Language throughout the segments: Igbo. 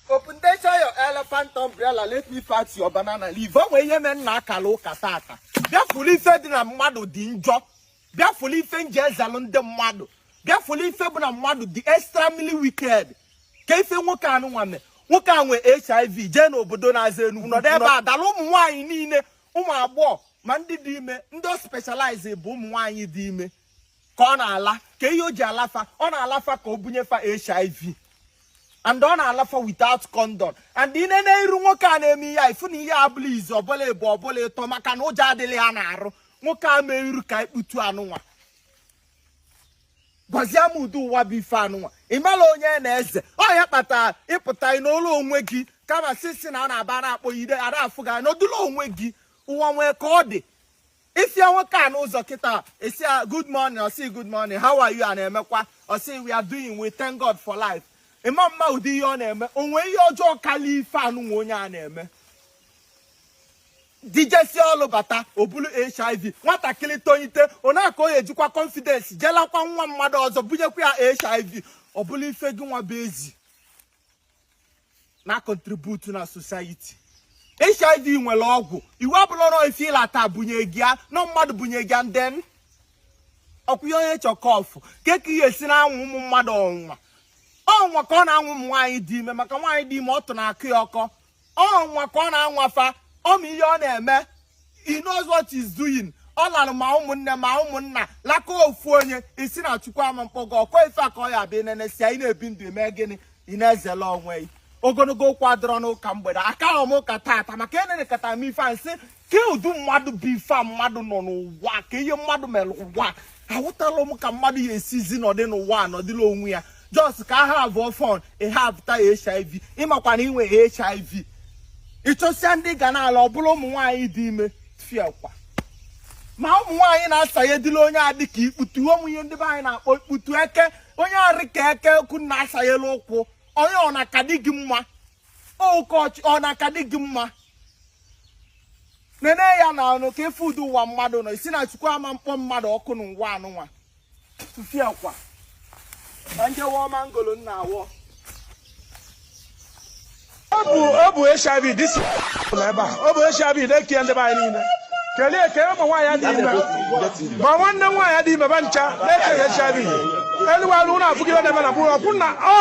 Opendecha your elephant umbrella let me fight your banana leaf. O nwere ihe mere m na akarọ ụka tata. Bịa fụlụ ife dị na mmadụ dị njọ. Bịa fụlụ ife m ji ezelụ ndị mmadụ. Bịa fụlụ ife bụ na mmadụ dị extremely wicked. Ka ife nwoke anụnwa mee. Nwoke a nwe HIV jee n'obodo na-aza Enugu. Nọdụ ebe a da-ala ụmụ nwaanyị niile ụmụ agbọghọ ma ndị dị ime ndị ọ specialize bụ ụmụ nwaanyị dị ime. ka ọ na-ala kee ihe o ji ala fa ọ na-ala fa ka o bunye fa hiv and ọ na-ala fa without condom and ị na-ene iru nwoke a na-eme ihe a ị fụ na ihe a bụla izu ọbụla ebu ọbụla ịtọ maka na ụjọ adịghị ya n'arụ nwoke a mee iru ka ikputu anụnwa gwazie m ụdị ụwa bụ ife anụnwa ị mara onye ị na-eze ọ ya kpatara ị pụta ị nọlọ onwe gị kama sisi na a na-aba na-akpọ ide ada afụ gị nọdụlọ onwe gị ụwa nwee ka ọ dị ị fụ ya nwoke a n'ụzọ kịta ị sị ya good morning ọ sị good morning how are you a na-emekwa ọ sị we are doing we thank God for life ị ma mma ụdị ihe ọ na-eme o nwe ihe ọjọọ karịa ife anụnwa onye a na-eme di jesị ọlụ bata o bulu hiv nwatakịrị tonyite onaka onye ejikwa confidence je lakwa nwa mmadụ ọzọ bunyekwa ya hiv ọ bụlụ ife gị nwa bụ ezi na contribute na society hiv nwere ọgwụ iwu abụrụ ọrụ ife ị lata bunye gị ya na mmadụ bunye gị ya and then ọ kwa ihe onye chọ ka ọ fụ kee ka ihe e si na-anwa ụmụ mmadụ ọnwa ọnwa ka ọ na-anwa ụmụ nwaanyị dị ime maka nwaanyị dị ime ọtụ na-akọ ya ọkọ ọnwa ka ọ na-anwa fa ọ ma ihe ọ na-eme he knows what he's doing ọ lara ma ụmụnne ma ụmụnna laka ofu onye ị sị na chukwu ama mkpọ gị ọkụ ife a ka ọ ya abịa nene sị anyị na-ebi ndụ eme gịnị ị na-ezela onwe gị ogologo okwu adịrọ n'ụka mgbede akarọ m ụka tata maka enenekọta m ife a m sị kee ụdị mmadụ bụ ife a mmadụ nọ n'ụwa kee ihe mmadụ mere ụwa aghọtala m ka mmadụ ya esizi nọdị n'ụwa nọdịla onwe ya just ka ha have fun ị have ta hiv ị makwa na i nwe hiv ị chọsịa ndị ị ga na-ala ọ bụrụ ụmụ nwaanyị dị ime fiakwa ma ụmụ nwaanyị na-asanyedịla onye a dị ka ikputu ụmụ ihe ndị be anyị na-akpọ ikputu eke onye a rị ka eke ka unu na-asanyela ụkwụ onye ọ na-akadị gị mma ụkọchị ọ na-akadị gị mma nene ya n'ọnụ kee ife ụdị ụwa mmadụ nọ ị sị na chukwu ama mkpọ mmadụ ọkụ n'ụwa anụnwa tụfiakwa na njewa ọma ngolo nna awọ ọ bụ ọ bụ HIV dịsị ebe a ọ bụ HIV na-eke ndị be anyị niile kelee ka ụmụ nwaanyị dị ime ma nwanne nwaanyị dị ime ba ncha na-ekeghị HIV elu alụ na abụghị na-eme na bụrụ ọkwụ na ọ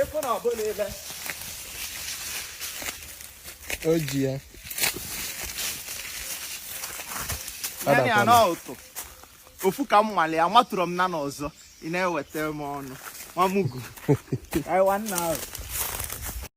ịfụ na ọbụla ebe o ji ya naanị ya na ụtụ ofu ka m nwale ya matụrụ m na n'ọzọ ị na-eweta m ọnụ mamugu aiwa nna ahụ